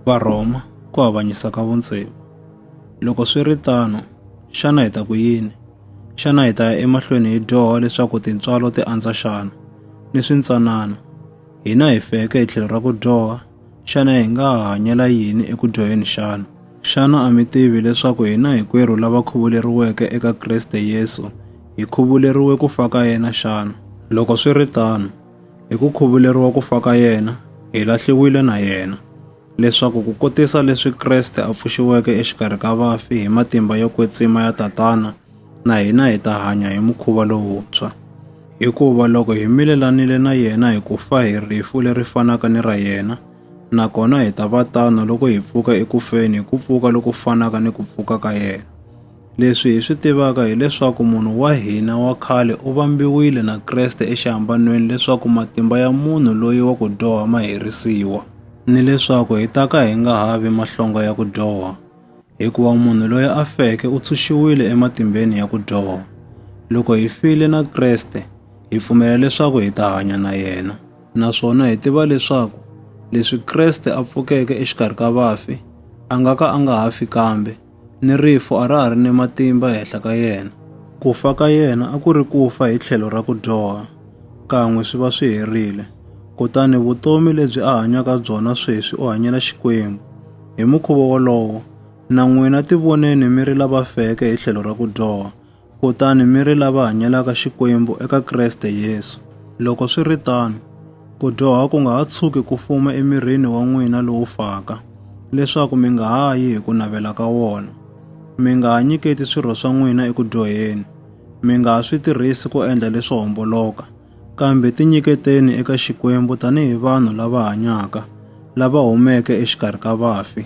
Varhoma ku avanyisa ka vuntshevo. Loko swi ri tano, xana hi ta ku yini? Xana hi ta ya emahlweni hi dyoha leswaku tintswalo ti andza xana? Ni swintsanana. Hina hi feke hi tlhelo ra ku dyoha, xana hi nga ha hanyela yini eku dyoheni xana? Xana a mi tivi leswaku hina hinkwerhu lava khuvuleriweke eka Kriste Yesu hi khuvuleriwe ku fa ka yena xana? Loko swi ri tano, Hi ku khuvuleriwa ku fa ka yena, hi lahliwile na yena, leswaku ku kotisa leswi Kreste a pfuxiweke exikarhi ka vafi hi matimba yo kwetsima ya Tatana, na hina hi ta hanya hi mukhuva lowuntshwa. Hikuva loko hi milelanile na yena hi ku fa hi rifu leri fanaka ni ra yena, nakona hi ta va tano loko hi pfuka eku feni hi ku pfuka loku fanaka ni ku pfuka ka yena. Leswi hi swi tivaka hi leswaku munhu wa hina wa khale u vambiwile na Kreste exihambanweni leswaku matimba ya munhu loyi wa ku dyoha ma herisiwa, ni leswaku hi ta ka hi nga ha vi mahlonga ya ku dyoha, hikuva munhu loyi a feke u tshunxiwile ematimbeni ya ku dyoha. Loko hi file na Kreste, hi pfumela leswaku hi ta hanya na yena. Naswona hi tiva leswaku leswi Kreste a pfukeke exikarhi ka vafi, a nga ka a nga ha fi kambe, ni rifu a ra ha ri ni matimba ehenhla ka yena. Ku fa ka yena a ku ri ku fa hi tlhelo ra ku dyoha, kan'we swi va swi herile. Kutani vutomi lebyi a hanyaka byona sweswi u hanyela Xikwembu. Hi mukhuva wolowo, na n'wina tivoneni mi ri lava feke hi tlhelo ra ku dyoha, kutani mi ri lava hanyelaka Xikwembu eka Kreste Yesu. Loko swi ri tano, ku dyoha ku nga ha tshuki ku fuma emirini wa n'wina lowu faka, leswaku mi nga ha yi hi ku navela ka wona. Mi nga ha nyiketi swirho swa n'wina eku dyoheni, mi nga ha swi tirhisi ku endla leswo homboloka, kambe tinyiketeni eka Xikwembu tanihi vanhu lava hanyaka, lava humeke exikarhi ka vafi,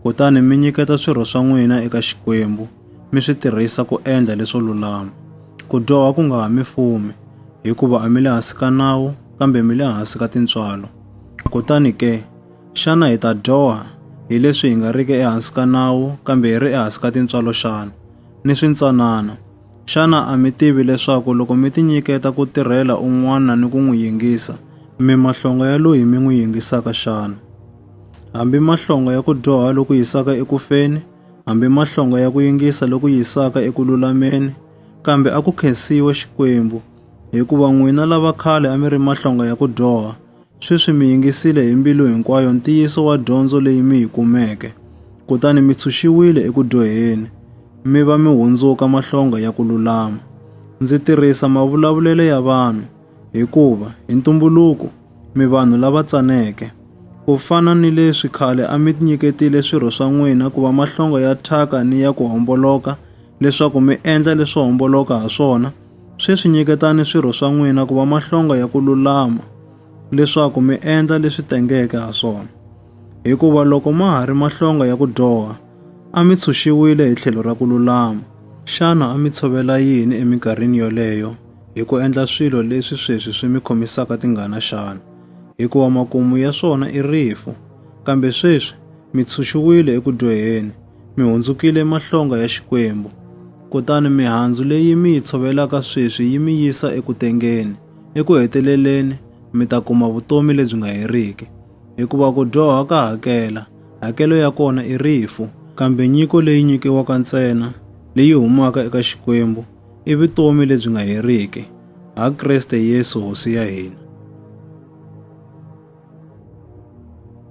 kutani mi nyiketa swirho swa n'wina eka Xikwembu. mi swi tirhisa ku endla leswo lulama. Ku dyoha ku nga ha mi fumi, hikuva a mi le hansi ka nawu kambe mi le hansi ka tintswalo. Kutani ke, xana hi ta dyoha hi leswi hi nga riki ehansi ka nawu kambe hi ri ehansi ka tintswalo xana? Ni swintsanana! Xana a mi tivi leswaku loko mi tinyiketa ku tirhela un'wana ni ku n'wi yingisa, mi mahlonga ya loyi mi n'wi yingisaka xana? Hambi mahlonga ya ku dyoha loku yisaka eku feni, hambi mahlonga ya ku yingisa loku yisaka eku lulameni, kambe a ku khensiwe Xikwembu, hikuva n'wina lava khale a mi ri mahlonga ya ku dyoha, sweswi mi yingisile hi mbilu hinkwayo ntiyiso wa dyondzo leyi mi yi kumeke, kutani mi tshunxiwile eku dyoheni, mi va mi hundzuka mahlonga ya ku lulama. Ndzi tirhisa mavulavulelo ya vanhu, hikuva, hi ntumbuluko, mi vanhu lava tsaneke! Ku fana ni leswi khale a mi nyiketile swirho swa n'wina ku va mahlonga ya thyaka ni ya ku homboloka leswaku mi endla leswo homboloka ha swona, sweswi nyiketani swirho swa n'wina ku va mahlonga ya ku lulama leswaku mi endla leswi tengeke ha swona. Hikuva loko ma ha ri mahlonga ya ku dyoha, a mi tshunxiwile hi tlhelo ra ku lulama. Xana a mi tshovela yini eminkarhini yoleyo? hi ku endla swilo leswi sweswi swi mi khomisaka tingana xana? Hikuva makumu ya swona i rifu. Kambe sweswi mi tshunxiwile eku dyoheni, mi hundzukile emahlonga ya Xikwembu. Kutani mihandzu leyi mi yi tshovelaka sweswi yi mi yisa eku tengeni. Eku heteleleni mi ta kuma vutomi lebyi nga heriki. Hikuva ku dyoha ka hakela, hakelo ya kona i rifu. Kambe nyiko leyi nyikiwaka ntsena leyi humaka eka Xikwembu i vutomi lebyi nga heriki, ha Kreste Yesu Hosi ya hina.